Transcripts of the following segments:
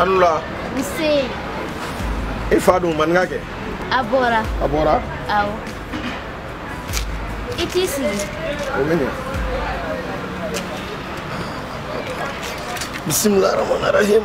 An wula. Nse. E fa dun maninkakɛ. A bɔra. A bɔra. Awɔ. I t'i sigi. O bɛ ɲɛ. Bisimilahi rahmani rahim.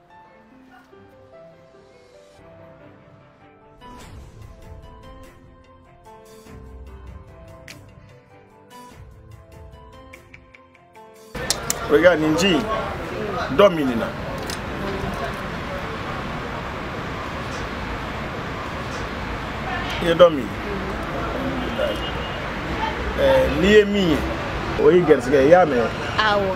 Regarde, Ninji, domine là. Il est domine. Eh, n'i ye min ye o y'i garisigɛ i y'a mɛn awɔ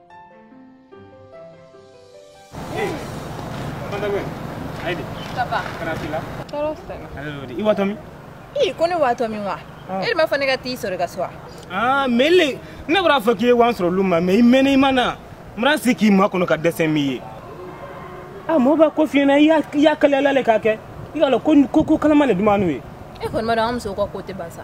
i watɔ min i ko ne watɔ min wa e de m'a fɔ ne ka t'i sɔrɔ i ka so wa ah, mɛ le ne bara a fɔ k'i ye wa n sɔrɔ lu ma mɛ i mɛnna i ma na n bara sii k'i makɔnɔ ka dɛsɛ min ye a ah, mɔgɔ b'a ko fiɲɛna i y'a kaliyala le k'a kɛ i k'a lɔn ko kalama le dumanu ye e kɔni m'a dɔn an musow ka ko tɛ ban sa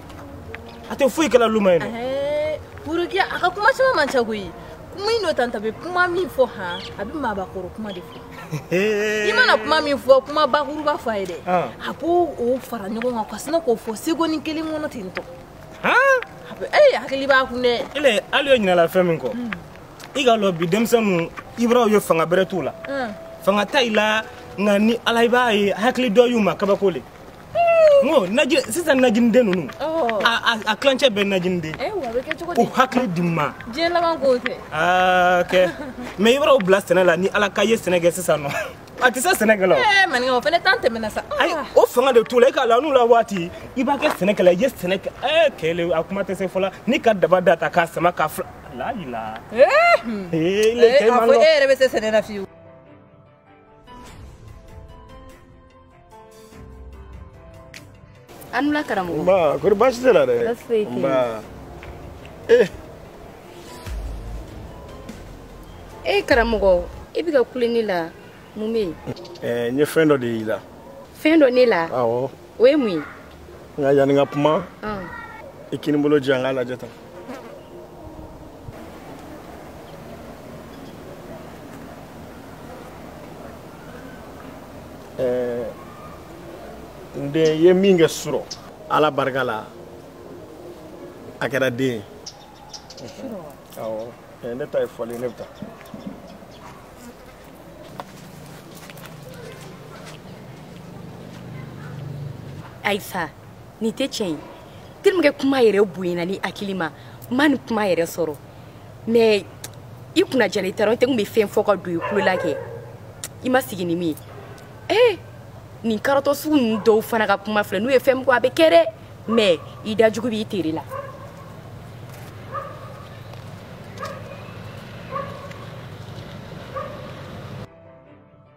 a tɛ foyi kɛla lu ma yen purukiya a ka kuma caman man ca koyi kuma in dɔ tan ta bɛ kuma min fɔ han a bɛ maabakɔrɔ kuma de fɔ i mana kuma min fɔ kuma bakuruba fɔ a ye dɛ a b'o fara ɲɔgɔn kan ka sina k'o fɔ segoni kelen kɔnɔ ten tɔ ee hakili b'a kun dɛ ele hali ye ɲinala fɛn min kɔ i k'a lɔn bi denmisɛnninw i bara u ye fanga bɛrɛ t'u la fanga t'ayi la nka ni ala i b'a ye hakili dɔ y'u ma kabako le N ko naji sisan najiniden ninnu oh. a a tilancɛ bɛ najiniden eh, u hakili diman diɲɛ laban ko tɛ ah, ok mɛ i b'o bila sɛnɛ la ni ala k'a ye sɛnɛ kɛ sisan nɔ a tɛ se sɛnɛ kɛla eh, maninka o fana tan tɛmɛna sa ayi ah. o fanga de t'u la i k'a lɔn anw la waati i b'a kɛ sɛnɛkɛla i ye sɛnɛ kɛ eh, kɛlɛ a kuma tɛ se fɔla n'i ka daba da ta k'a sama k'a fila la yila eh, hmm. a fɔ e yɛrɛ bɛ se sɛnɛ na fiyewu an wula karamɔgɔ nba kori baasi t'i la dɛ baasi foyi tɛ nba ee e eh, karamɔgɔ i bɛ ka kule ne la mun bɛ yen ɛɛ eh, n ye fɛn dɔ de y'i la fɛn dɔ ne la awɔ o ye mun ye nka yanni n ka kuma i kinibolo jɛ an k'a lajɛ tan ɛɛ n den ye min kɛ surɔ ala barika la a kɛra den ye ne ta ye foli ne bɛ taa ayi fa nin tɛ tiɲɛ ye telimakɛ kuma yɛrɛ bonyana ne hakili ma ma ni kuma yɛrɛ sɔrɔ mɛ i kunna jali tɛ dɔrɔn tɛ k'u bɛ fɛn fɔ ka don i tulo la kɛ i ma sigi ni min ye ee nin karatɔ sugu ninnu dɔw fana ka kuma filɛ n'u ye fɛn min fɔ a bɛ kɛ dɛ mɛ i da jugu b'i tere la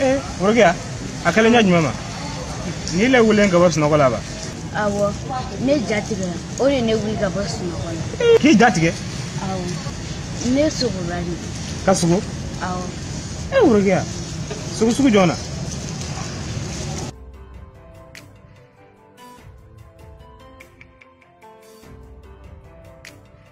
ee worokiya a kɛlen ɲɛ jumɛn ma n'ile wulilen ka bɔ sunɔgɔ la ba awɔ ne ja tigɛra o de ne wuli ka bɔ sunɔgɔ la k'i ja tigɛ awɔ ne sogora de ka sogo awɔ ee worokiya sogo sugu jɔn na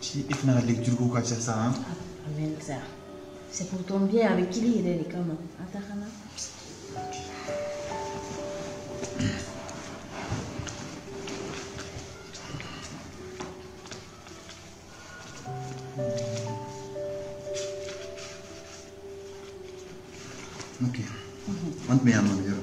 Si e fana ka lecture ko ka ca sa han. A mɛn sa. C'est pour ton bien a bɛ k'ile yɛrɛ de kama. An ta kana. Ok. An tun bɛ yan nɔ yɔrɔ.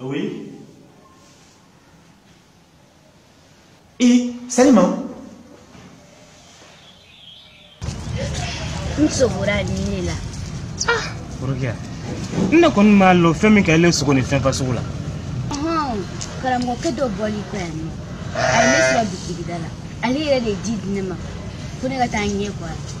Oui. Et salut maman. N sogora nin de la. Ah. Worokiya. N ne kɔni m'a lɔn fɛn min ka ile sogo nin fɛn fasugu la. Karamɔgɔkɛ dɔ bɔli kɔ yan nɔ. A ye ne sɔrɔ bitigida la. Ale yɛrɛ de ye ji di ne ma. Ko ne ka taa n ɲɛ ko a la.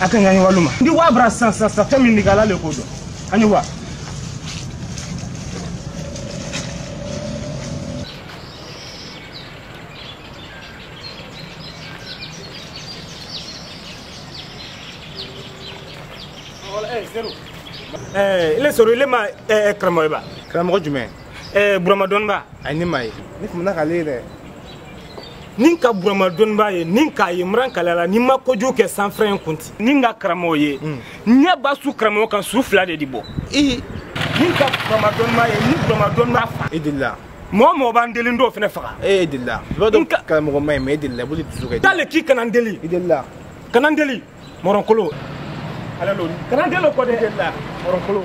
a ka ɲani walima ndi wa bara san san san fɛn min ni ala le k'o dɔn an ye wa ile sɔrɔ ile ma karamɔgɔ ye ba karamɔgɔ jumɛn burama dɔnniba a ne m'a ye ne tun bɛna k'ale ye dɛ ni ka burama dɔnnibaa ye ni k'a ye mran kalala ni ma kojugu kɛ sanfɛrɛ in kunti ni ka karamɔgɔ ye hmm. ɲɛ ba su karamɔgɔ kan su fila de di bɔ i ni ka burama dɔnnibaa ye ni burama dɔnnibaa fa i delila mɔgɔ mɔgɔ b'an deli dɔw fana faga e delila i b'a dɔn karamɔgɔ ma ye mɛ e delila boli dusu kɛ t'ale k'i kana n deli i delila kana n deli mɔrɔnkolo ala lo kana n deli o kɔ dɛ i delila mɔrɔnkolo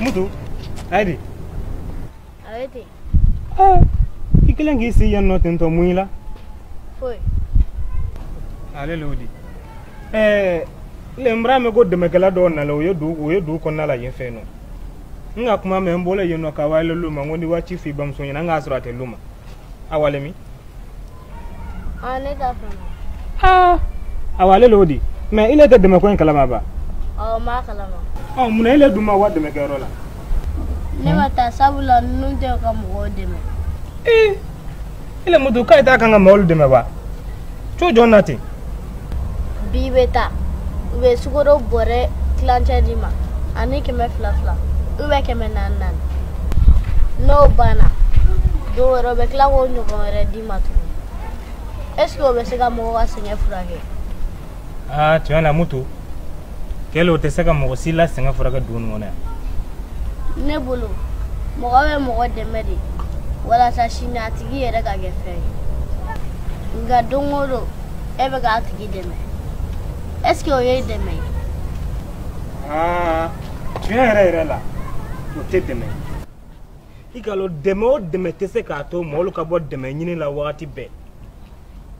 mutu ayi a bɛ di ah, i kelen k'i si yan nɔ tentɔ mun y'i la foyi ale le o di ɛɛ ne bar'a mɛ ko dɛmɛkɛla dɔw nana o ye du o ye du kɔnɔna la yen fɛ yen nɔ n ka kuma mɛ n bɔra yen nɔ ka wa i la lu ma n ko n di wa ci f'i bamuso ɲɛna n k'a sɔrɔ a tɛ lu ma a walen min ne da fana aw ale de y'o di mais i le tɛ dɛmɛ ko in kalama ba ɔ n b'a kalama ɔ mun na e le dun ma wa dɛmɛkɛyɔrɔ la ne ma taa sabula ninnu tɛ ka mɔgɔw dɛmɛ ee i le mutu k'a ye tɛ kan ka mɔgɔw dɛmɛ ba cogo jɔn na ten bi bɛ taa u bɛ sukaro bɔrɛ tilancɛ d'i ma ani kɛmɛ fila fila u bɛ kɛmɛ naani naani n'o banna don wɛrɛ u bɛ tila k'o ɲɔgɔn wɛrɛ d'i ma tugun est ce que o bɛ se ka mɔgɔ ka sɛgɛn furakɛ aa tiɲɛ na mutu kɛlɛ o tɛ se ka mɔgɔ si la sɛgɛn furakɛ dugu nin kɔnɔ yan ne bolo mɔgɔ bɛ mɔgɔ dɛmɛ de walasa sini a tigi yɛrɛ ka kɛ fɛn ye nka don o don e bɛ k'a tigi dɛmɛ est ce que o ye dɛmɛ ye tiɲɛ yɛrɛ yɛrɛ la o tɛ dɛmɛ ye i k'a dɔn dɛmɛ o dɛmɛ tɛ se k'a to mɔgɔw ka bɔ dɛmɛ ɲini la wagati bɛɛ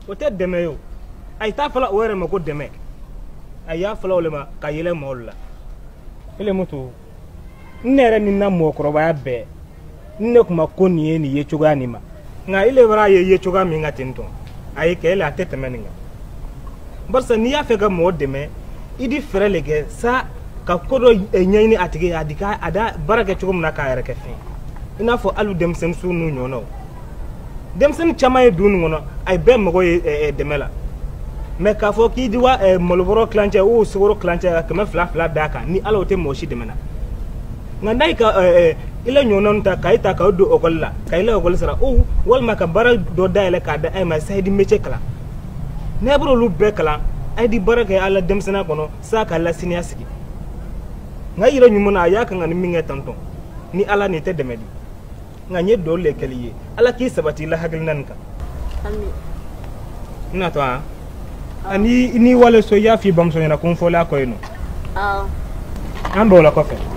o tɛ dɛmɛ ye o a ye t'a fɔla o yɛrɛ ma ko dɛmɛ a y'a fɔla o le ma ka yɛlɛ maaw la ele mutu ne yɛrɛ ni n na mɔgɔkɔrɔbaya bɛɛ n ne kuma ko nin ye nin ye cogoya nin ma nka ele bar'a ye ye cogoya min ka ten tɔn a ye kɛ ele a tɛ tɛmɛ nin kan barisa n'i y'a fɛ ka mɔgɔ dɛmɛ i di fɛɛrɛ le kɛ sa ka ko dɔ eh, ɲɛɲini a tigi ye a di ka a da baara kɛ cogo min na k'a yɛrɛ kɛ fɛn i n'a fɔ hali denmisɛnninw n'u ɲɔgɔnnaw denmisɛnnin caman ye du nin kɔnɔ a ye bɛɛ mago ye eh, eh, dɛmɛ la mais k'a fɔ k'i di wa eh, malobɔrɔ tilancɛ o sukaro tilancɛ ka kɛmɛ fila fila d'a kan ni ala o tɛ mɔgɔ si dɛmɛ na nka n'a ye ka i la ɲɔgɔnnaw ta ka i ta k'aw don ekɔli la ka i la ekɔli sara o walima ka baara dɔ dayɛlɛ k'a da a ye ma sa a ye di mece kalan n'a bɛ olu bɛɛ kalan a ye di baara kɛ a la denmisɛnninya kɔnɔ sa k'a la siniɲɛsigi nka yɛrɛ ɲuman na a ye kan ka nin min kɛ tantɔn ni ala nin tɛ dɛmɛ di nka n ye duwa le kɛ l'i ye ala k'i sabati la hakilina nin kan n natɔ an ani n'i wala so i y'a f'i bamuso ɲɛna ko n fɔlen a kɔ yen nɔ an b'o la kɔfɛ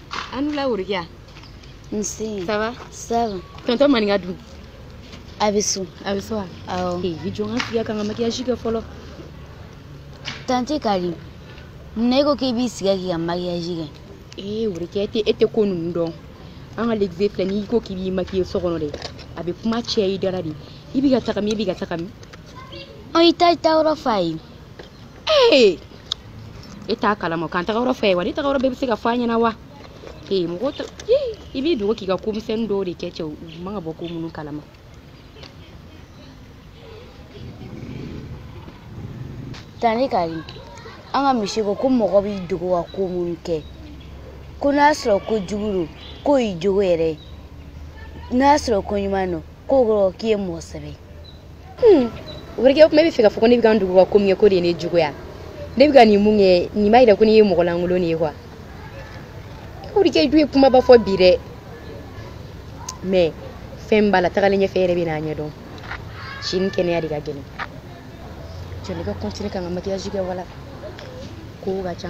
an wula worokiya nse sava sava tonton maninka dun a bɛ so a bɛ so wa awɔ ee i jɔ n ka n sigi yan ka n ka makiyaji kɛ fɔlɔ tante kari munna e ko k'i b'i sigi yan k'i ka makiyaji kɛ ee worokiya tɛ e tɛ ko ninnu dɔn an ka legize filɛ n'i ko k'i b'i makiye so kɔnɔ dɛ a bɛ kuma caya i da ra dɛ i bɛ ka taga min i bɛ ka taga min ɔ i t'i taa yɔrɔ f'an ye ee e t'a kalama k'an taga yɔrɔ fɛ wa ne taga yɔrɔ bɛɛ bɛ se ka fɔ a ɲɛna wa ee mɔgɔ ta i b'i dogo k'i ka ko misɛnnin dɔw de kɛ cɛw man kan ka bɔ ko minnu kalama tante kari an ka misye ko ko mɔgɔ b'i dogo ka ko minnu kɛ ko n'a sɔrɔ ko jugu don k'o y'i jogo yɛrɛ ye n'a sɔrɔ ko ɲuman don k'o kɔrɔ k'i ye mɔgɔ sɛbɛ ye Hmm, worokiya o kuma e bɛ fɛ ka fɔ ko ne bɛ ka n dogo ka ko min kɛ k'o de ye ne jogo ye ne bɛ ka nin min kɛ nin b'a jira ko ne ye mɔgɔ lankolon de ye kuwa worokiya dun ye kumaba fɔ bi dɛ mɛ fɛn b'a la tagalen ɲɛfɛ yɛrɛ bɛn'a ɲɛdɔn sini kɛnɛya de ka gɛlɛn jɔ ne ka kɔntine ka n ka makiyaji kɛ wala kow ka ca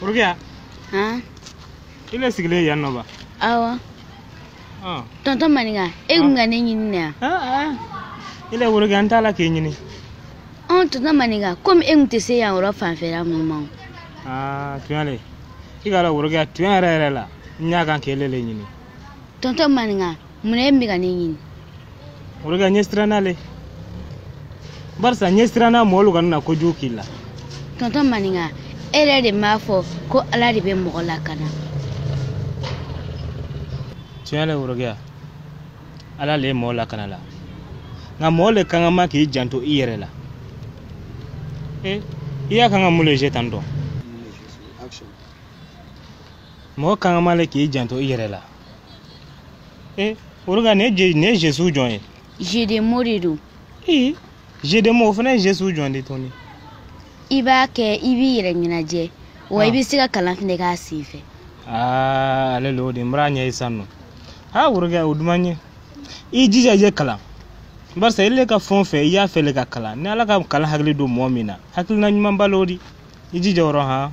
Worokiya han i le sigilen yan nɔ ba awɔ ɔn tɔntɔn maninka e bɛ ka ne ɲini na yan i le worokiya n t'a la k'e ɲini anw tɔntɔn maninka komi e tun tɛ se yan yɔrɔ fanfɛla ninnu ma o aa tuɲa le i k'a dɔn worokiya tuɲa yɛrɛ yɛrɛ la n y'a kan k'ile le ɲini tɔntɔn maninka mun na e bɛ ka ne ɲini worokiya n ye siranna le barisa n ye siranna mɔgɔlu kana kojugu k'i la tɔntɔn maninka e yɛrɛ de m'a fɔ ko ala de bɛ mɔgɔ lakana tuɲa le worokiya ala le ye mɔɔ lakana la nka mɔɔ le kan ka ma k'i janto i yɛrɛ la e i y'a kan ka mun le je tan dɔn mɔɔ kan ka ma le k'i janto i yɛrɛ la e olu ka nin ye nin ye jesu jɔn ye jedemo de don ee jedemo o fana ye jesu jɔn de tɔni i b'a kɛ i b'i yɛrɛ ɲɛnajɛ wa i ah. bɛ se ka kalan fɛnɛ k'a sen fɛ ah, ale le o di i bar'a ɲɛ ye sisan nɔ aa worokɛ o duman n ɲɛ i jija i ye kalan barisa ile ka fɛn o fɛn i y'a fɛ le ka kalan ni ala ka kalan hakili don mɔgɔ min na hakilina ɲumanba le o di i jija o rɔ han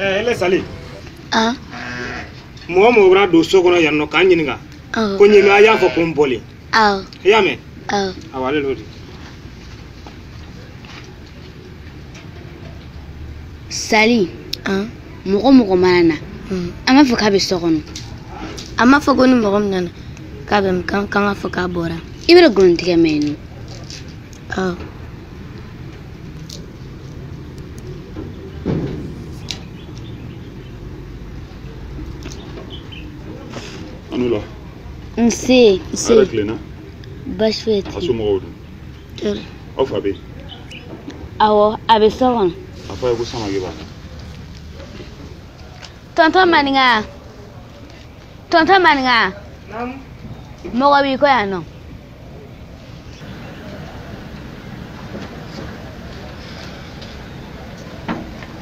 ɛɛ ne sali an mɔgɔ mɔgɔ bɛna don so kɔnɔ yan nɔ ka n ɲininka awɔ ko n ye min a y'a fɔ ko n bɔlen awɔ i y'a mɛn awɔ awɔ ale le o di sali mɔgɔ mɔgɔ mana na an b'a fɔ k'a bɛ so kɔnɔ a m'a fɔ ko ni mɔgɔ min nana k'a bɛ min kan k'an k'a fɔ k'a bɔra i bɛna nkalon tigɛ mɛ yen nɔ A ni wula. Nse. Nse. Hɛrɛ tilenna. Baasi foyi tɛ. A somɔgɔw dun? Tori. Aw fa bɛ yen. Awɔ, a bɛ so kɔnɔ. A fɔ a ye ko Samake b'a la. Tonton Maninka. Tonton Maninka. Naamu. Mɔgɔ b'i kɔ yan nɔ.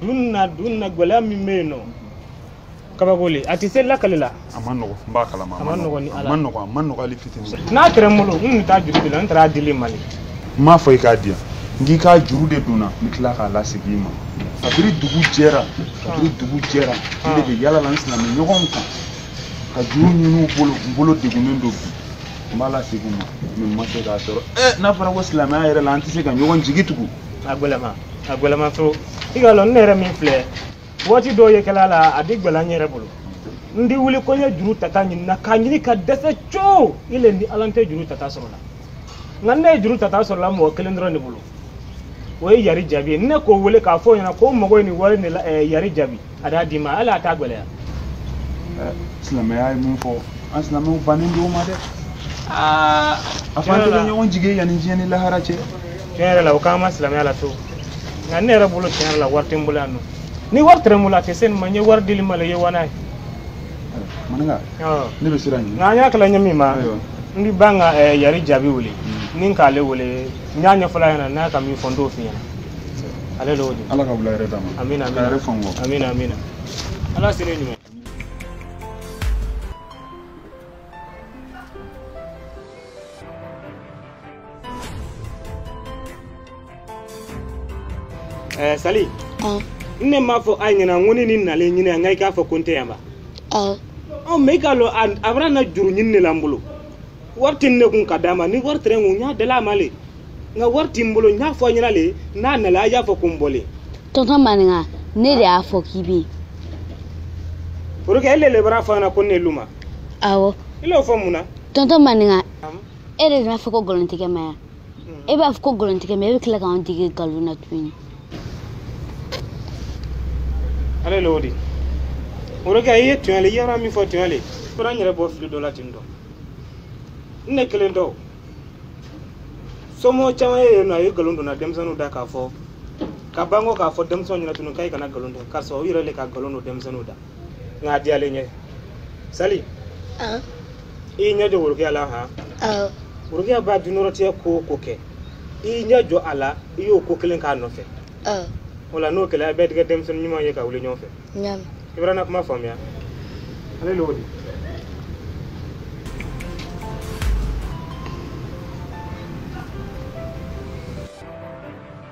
dun na dun na gɛlɛya min bɛ yen nɔ kabako le a tɛ se lakali la a ma nɔgɔ n b'a kalama a ma nɔgɔ ni ala a ma nɔgɔ a ma nɔgɔ hali fitinin n'a kɛra n bolo n tun bɛ taa juru de la n taara dili mali n m'a fɔ i k'a di yan n k'i k'a juru de don n na n bɛ tila k'a lasegin i ma kabiri dugu jɛra kabiri dugu jɛra n de bɛ yaala la n silamɛ ɲɔgɔnw kan ka juru ɲini u bolo n bolo degunnen don bi n b'a lasegin u ma mɛ n ma se k'a sɔrɔ ɛ n'a fɔra ko silamɛya yɛrɛ la an tɛ se ka ɲɔgɔn jigi tugu a gɛlɛman a gɛlɛman trop i k'a lɔn ne yɛrɛ min filɛ waati dɔw ye kɛla la a di gɛlɛya n yɛrɛ bolo n di wuli ko n ye juru tata ɲini na k'a ɲini ka dɛsɛ coo i le ni ala n tɛ juru tata sɔrɔ la nka ne ye juru tata sɔrɔ la mɔgɔ kelen dɔrɔn de bolo o ye yari jaabi ye ne k'o wele k'a fɔ o ɲɛna ko n mago ye nin wari de la eh, yari jaabi a d'a d'i ma hali a t'a gɛlɛya silamɛya ye mun fɔ an silamɛw bannen don o ma dɛ aa a fɔ an tɛ ɲɔgɔn jigin yanni diɲɛ ni lahara cɛ tiɲɛ yɛrɛ la o k'an ma silamɛya la fiyewu nka ne yɛrɛ bolo tiɲɛ yɛrɛ la wari tɛ n bolo yan nɔ ni wari tɛrɛ n bolo a tɛ se nin ma n ye wari dil'i ma le i ye wana ye maninka ne bɛ siran ɲɛ nka an y'a kala ɲɛ min ma n bɛ ban ka yari jaabi wele ni k'ale wele n y'a ɲɛfɔla ɲɛna n'a ka min fɔ n t'o f'i ɲɛna ale l'o di ala ka wula hɛrɛ d'an ma amina amina hɛrɛ fan bɔ amina amina ala sini ɲuman Eh, sali ah. n ne m'a fɔ a ɲɛna n ko ni nin nalen n ɲininka i k'a fɔ ko n tɛ yan ba ah. ɔ mɛ i k'a lɔn a bɛna na juru ɲini de la n bolo wari tɛ ne kun ka d'a ma ni wari tɛrɛ n kun n y'a dil'a ma le nka wari tɛ n bolo n y'a fɔ a ɲɛna le n'a nalen a y'a fɔ ko n bɔlen. tɔntɔn maninka ne de y'a fɔ k'i bɛ yen. pourquoi ile le bar'a fɔ an na ko ne luma. awɔ. i l'o fɔ mun na. tɔntɔn maninka e de bɛna fɔ ko nkalontigɛ man ɲi. e b'a fɔ ko nkalontigɛ man ɲi e bɛ tila k'an dege nkalon na tuguni ale l'o di o de kɛ i ye tonya le i yɛrɛ min fɔ tonya le fɔra n yɛrɛ bɔ fili dɔ la ten tɔ n ne kelen tɛ somɔgɔ caman ye yen nɔ a ye nkalon donna denmisɛnninw da k'a fɔ ka ban ko k'a fɔ denmisɛnw ɲɛna tugun k'a ye kana nkalon don karisa u yɛrɛ le ka nkalon don denmisɛnninw da nka a diyalen n ɲɛ sali ah. i y'i ɲɛ jɔ worokiya la han ah. worokiya baa dunɔrɔtigɛ ko o ko kɛ i y'i ɲɛ jɔ a la i y'o ko kelen k'a nɔfɛ ah. o la n'o kɛlen a bɛɛ di kɛ denmisɛnnin ɲuman ye ka wuli ɲɔgɔn fɛ i bara n na kuma faamuya ale l'o di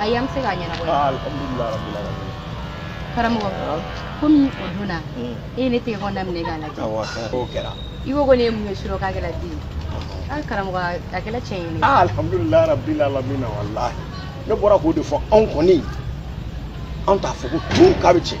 ayi a ma se ka ɲɛnabɔ ye Ah, alhamdulillah rabbil alamin karamɔgɔ Ah, komi o donna mm. e ye ne tɛgɛ kɔnɔna minɛ k'a lajɛ Awɔ, kɛra. K'o kɛra i ko ko ne ye mun ye surɔ k'a kɛra den ye a karamɔgɔ a kɛra tiɲɛ ye ne Ah, alhamdulillah rabbil alamin wallahi ne bɔra k'o de fɔ anw kɔni anw t'a fɔ ko tun k'a bɛ tiɲɛ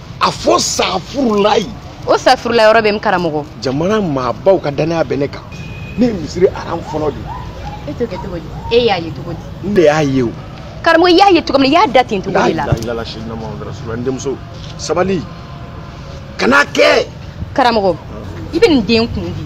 a fɔ safurulayi o safurulayi yɔrɔ bɛ min karamɔgɔ jamana maabaw ka dannaya bɛ ne kan ne ye misiri aran fɔlɔ de e t'o kɛ cogo di e y'a ye cogo di n de y'a ye o karamɔgɔ i y'a ye cogo min na i y'a da ten cogo de la n denmuso sabali kana kɛ karamɔgɔ i bɛ nin den kun di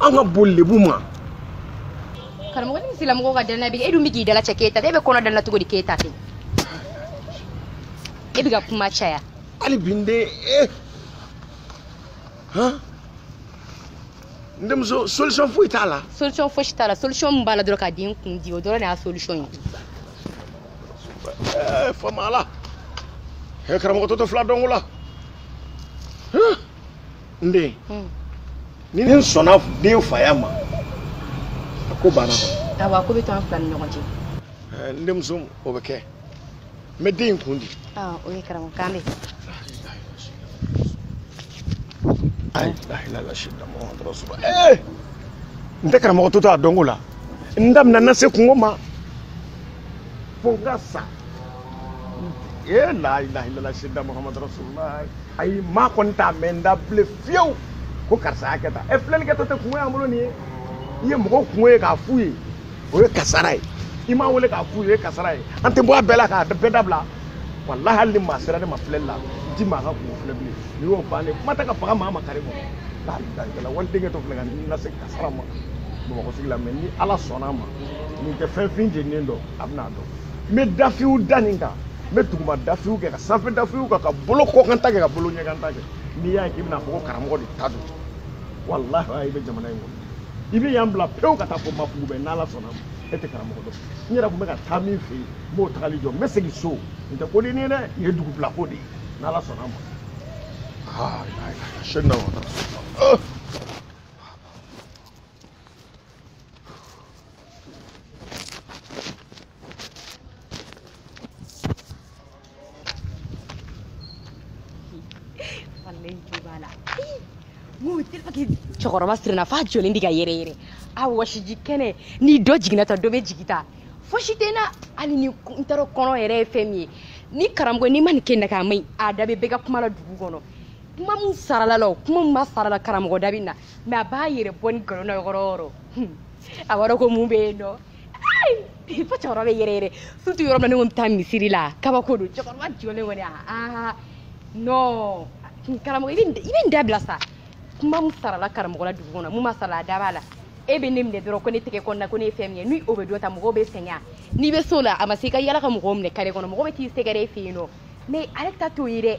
an ka boli lebu ma karamɔgɔ ni misirilamɔgɔw ka danaya bɛ e dun bɛ k'i dalacɛ k'e ta tɛ e bɛ kɔnɔ dala cogo di k'e ta tɛ e bɛ ka kuma caya hali bi n den e han n denmuso solution foyi t'a la solution fosi t'a la solution min b'a la dɔrɔn ka den kun di o dɔrɔn de y'a solution ye Eh, faama ala ɛ karamɔgɔ toto fila dɔnko la n den hmm. ni n sɔnna den faya ma a ko banna kɔni. awa ko bɛ to an fila ni ɲɔgɔn cɛ. ɛɛ n denmuso o bɛ kɛ n bɛ den in kun di. aa o ye karamɔgɔ kan mɛn. ayi ayi la lasi lamɔ an tɔɔrɔ sɔrɔ ɛɛ n tɛ karamɔgɔ to to a dɔnko la n daminɛ na se kunko ma fo n ka sa. e la ilaha illallah sidda muhammad rasulullah ayi maa kɔni t'a mɛn n da bilen fiyewu ko karisa y'a kɛ tan ɛ filɛli kɛtɔ tɛ kunko y'an bolo nin ye i ye mɔgɔw kunko ye k'a f'u ye o ye kasara ye i m'u wele k'a f'u ye o ye kasara ye an tɛ bɔ a bɛɛ la k'a bɛɛ dabila walahi hali ni maa sera ne ma filɛli la n tɛ maa ka kunko filɛ bilen nin y'o bannen kuma tɛ ka faga maa ma kari kɔ la ilaha illallah waliden kɛtɔ filɛ ka n lase kasara ma bamakɔ sigi la mɛ ni ala sɔnna a ma nin tɛ fɛn fin jeninen dɔn a bɛna a dɔn n bɛ dafiw da nin kan n bɛ duguma dafiw kɛ ka sanfɛ dafiw kɛ ka bolo kɔkan ta kɛ ka bolo ɲɛkan ta kɛ n'i y'a ye k'i bɛna a fɔ ko karamɔgɔ de ta don walahi a i bɛ jamana in kɔnɔ i bɛ yan bila pewu ka taa fo mafugu bɛɛ n'ala sɔnna a ma e tɛ karamɔgɔ dɔn n yɛrɛ tun bɛ ka taa min fɛ yen n b'o tagali jɔ n bɛ segin so n tɛ ko nin na dɛ nin ye dugu bila ko de ye n'ala sɔnna a ma aa sɛni na wa cɛkɔrɔba sirinna f'a jɔlen di ka yɛrɛ yɛrɛ a wɔsiji kɛnɛ ni dɔ jiginna ta dɔ bɛ jigi ta fosi tɛ na hali ni n t'a dɔn kɔnɔ yɛrɛ ye fɛn min ye ni karamɔgɔ n'i ma nin kɛ na k'a man ɲi a da bɛ bɛɛ ka kuma la dugu kɔnɔ kuma min sarala a la o kuma min ma sara a la karamɔgɔ da bɛ na mɛ a b'a yɛrɛ bɔ ni nkalon na yɔrɔ yɔrɔ a b'a dɔn ko mun bɛ yen nɔ fo cɛkɔrɔba bɛ yɛrɛ yɛrɛ sutu yɔrɔ min na ne ko n bɛ taa misiri la kabako don cɛkɔrɔba jɔlen kɔni aa non karamɔgɔ i bɛ nin dabila sa kuma min sarala karamɔgɔ la dugu kɔnɔ min ma sara a la a da b'a la e bɛ ne minɛ dɔrɔn ko ne tɛgɛ kɔnɔna ko ne ye fɛn min ye ni o bɛ dɔ ta mɔgɔw bɛ sɛgɛn n'i bɛ se a la a ma se i ka yala ka mɔgɔw minɛ kare kɔnɔ mɔgɔ bɛ t'i sɛgɛrɛ e fɛ yen nɔ mɛ ale ta t'o ye dɛ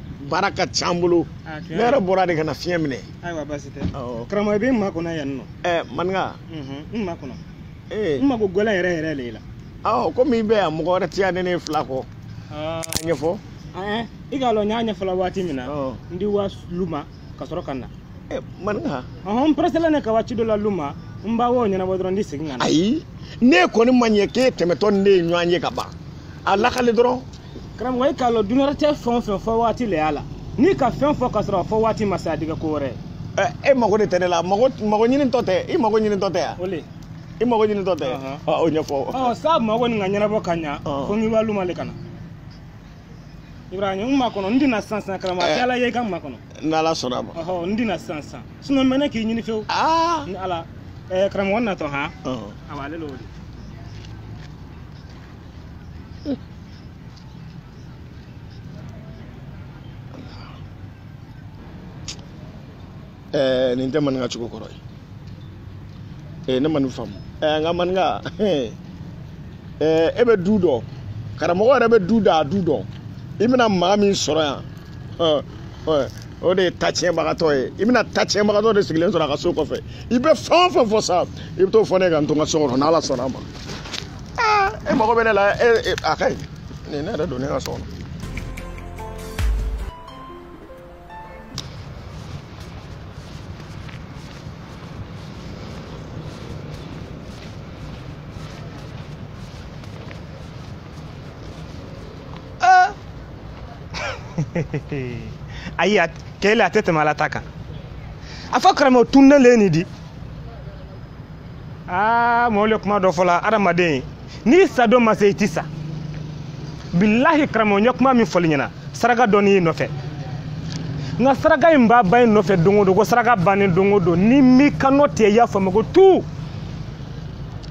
baara ka ca an bolo ah, ne yɛrɛ bɔra de ka na fiɲɛ minɛ ayiwa basi tɛ karamɔgɔ i bɛ n makɔnɔ yan nɔ ɛɛ maninka n makɔnɔ n mako y'i le yɛrɛ yɛrɛ de la awɔ komi i bɛ yan mɔgɔ wɛrɛ ti yan ne n'e fila kɔ a ɲɛfɔ i k'a dɔn n y'a ɲɛfɔla waati min na n di wa lu ma ka sɔrɔ ka na maninka n pɛrɛsɛlen ne ka waati dɔ la lu ma n ba wo ɲɛnabɔ dɔrɔn n di segin ka na ayi ne kɔni ma ɲɛ k'e tɛmɛtɔ ni ne ye ɲɔgɔn ye ka ban a lakale dɔrɔn karamɔgɔ i k'a lɔn dunuya rɔ ten fɛn o fɛn fɔ waati le y'a la n'i ka fɛn fɔ ka sɔrɔ a fɔ waati ma se a di kɛ ko wɛrɛ e mago de tɛ ne la mago mago ɲini tɔ tɛ i mago ɲini tɔ tɛ yan o le i mago ɲini tɔ tɛ o ɲɛfɔ ɔ sa mago nin ka ɲɛnabɔ ka ɲa fo n ka wa luma le ka na ibrahima n makɔnɔ n di na sisan sisan karamɔgɔ kɛ ala ye i ka n makɔnɔ n'ala sɔnna a ma ɔhɔ n di na sisan sisan sinɔ n bɛ ne k'i ɲini fewu ni ala karamɔgɔ natɔ han awa ale lo o de ɛɛ nin tɛ maninka cogo kɔrɔ ye ee ne ma nin faamu ɛɛ n ka maninka ɛɛ e bɛ du dɔn karamɔgɔ yɛrɛ bɛ du da a du dɔn i bɛna maa min sɔrɔ yan o de ye ta tiɲɛbagatɔ ye i bɛna ta tiɲɛbagatɔ de sigilen sɔrɔ a ka so kɔfɛ i bɛ fɛn o fɛn fɔ sa i bɛ t'o fɔ n ye ka n to n ka so kɔnɔ n'ala sɔnna a ma. e mago bɛ ne la a ka ɲi ni ne yɛrɛ don ne ka so kɔnɔ ayi kele a tɛ tɛmɛ ala ta kan a fɔ karamɔgɔ tuɲa le nin di aa mɔgɔw ye kuma dɔ fɔla adamaden n'i sa don ma se i ti sa bilahi karamɔgɔ n ye kuma min fɔl'i ɲɛna saraka dɔ le y'i nɔfɛ nka saraka in b'a ba in nɔfɛ don o don ko saraka bannen don o don ni min kanna tɛ i y'a faamu ko tu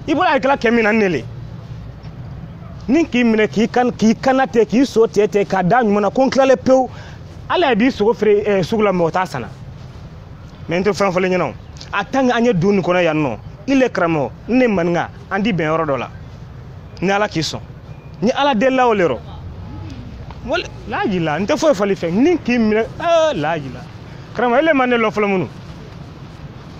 i bɔra a kɛla kɛ min na ne le ni k'i minɛ k'i kan k'i kanna tɛ k'i sogo tɛtɛ k'a da ɲuman na ko n kalilen pewu ala ye b'i sogo feere sugu la mɔgɔ t'a sanna mɛ n tɛ fɛn fɔl'i ɲɛna o a tan an ye du nin kɔnɔ yan nɔ i le karamɔgɔ n ne maninka an di bɛn yɔrɔ dɔ la ni ala k'i sɔn ni ala delila o le rɔ wali laaji la n tɛ foyi fɔli fɛ ni k'i minɛ laaji la karamɔgɔ e le ma ne lɔn fɔlɔ munun